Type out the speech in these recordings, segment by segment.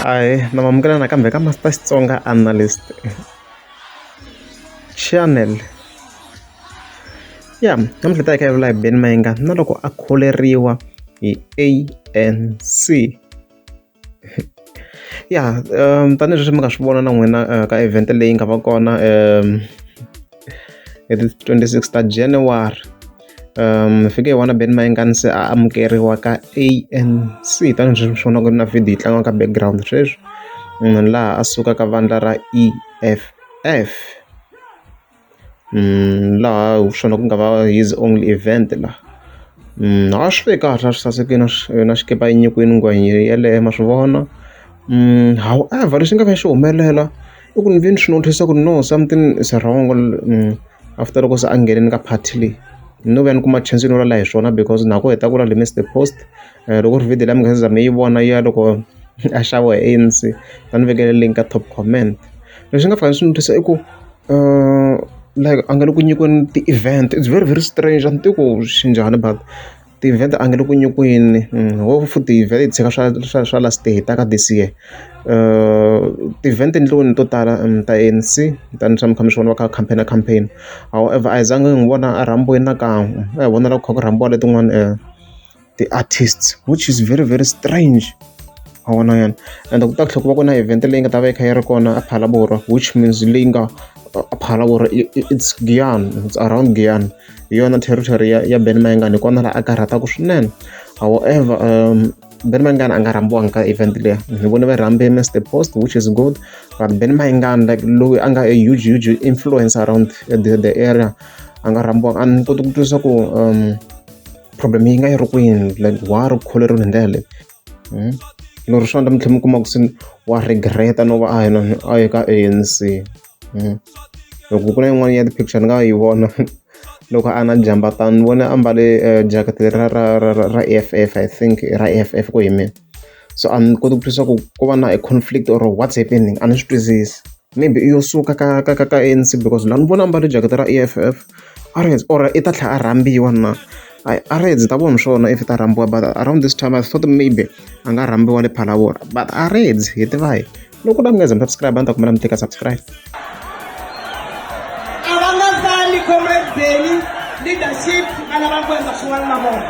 ahe na mamukela nakambe ka master xitsonga analyst channel ya namuntlha ta hi ka yevula hi beni mayinga na loko a kholeriwa hi anc ya tanihileswi mi nga swi vona na n'wina ka event leyi nga va kona hi ti twenty six ta January hi fike hi vona Benny Mayengani se a amukeriwa ka A_N_C tanihileswi mi swi vonaka na video yi tlanga ka background sweswi laha a sukaka vandla ra E_F_F. laha hi swona ku nga va his only event la a swi ve kahle a swi sasekile yona xikipa yi nyikiwile nghwazi yeleyo ma swi vona however lexi nga va xi humelela i ku ni ve ni swi notice-a ku no something is wrong after loko se a nghenile ka party leyi no va ni kuma chance yo vula hi swona because na ku heta ku la he missed the post. loko ku ri video leyi mi nga se za mi yi vona ya loko a xaviwa hi A_N_C va ni vekela link ka top comment lexi nga fanela xi ni twisa i ku like a nga le ku nyikiweni ti-event it's very very strange a ni tivi ku swi njhani but ti-event a nga le ku nyikiweni ho futhi vhele hi tshika swa swa swa last hi ta ka this year ti-event endliweni to tala ta A_N_C tani swa mi kha mi swi vona va kha va campaign campaign however a hi zanga hi n'wi vona a rhambiwile nakan'we a hi vonela ku kha ku rhambiwa letin'wana . ti-artists which is very very strange ma vona yena ende ku ta tlhela ku va ku na event leyi nga ta va yi kha yi ri kona a Phalaborwa which means leyi nga a Phalaborwa it's Giyani it's around Giyani hi yona territory ya ya Ben Mayengani hi kona laha a karhataka swinene however Ben Mayengani a nga rhambiwanga ka event leyi ni vone va rhambe Mister Post which is good but Ben Mayengani like loyi a nga a huge huge influence around the the area a nga rhambiwanga a ni koti ku twisisa ku . problem yi nga yi ri kwini like wa ha ri kholeriweni hi ndlela leyi hmm? lero swi endla mi tlhela mi kuma ku se wa regreta no va a hi a hi ka anc hmm? loko ku na yin'wana ya ti-picture ni nga yi vona loko a na jamba tani ni vone a mbale eh, jacket ra ra ra ra eff i think ra eff ku hi mina so a ni koti ku twisisa ku ko va na a conflict or what's happening a ni swi twisisi maybe i yo suka ka ka ka ka A_N_C because la ni vona a mbale jacket ra E_F_F a ri or i ta tlhela a rhambiwa na I a ri ndzi ta vona swona if ta rhambiwa but around this time I thought maybe a nga rhambiwa le Phalaborwa but a ri ndzi hi tiva hi. loko na mi nga ze mi subscribe a ni ta kumela mi teka subscribe a va nga sali comrade beni leadership a lava ku endla swin'wana na vona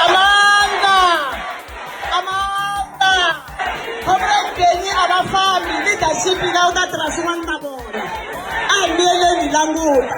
amanda amanda comrade beni a va fambi leadership yi nga u ta tirha swin'wana na vona a hi miyeleni languta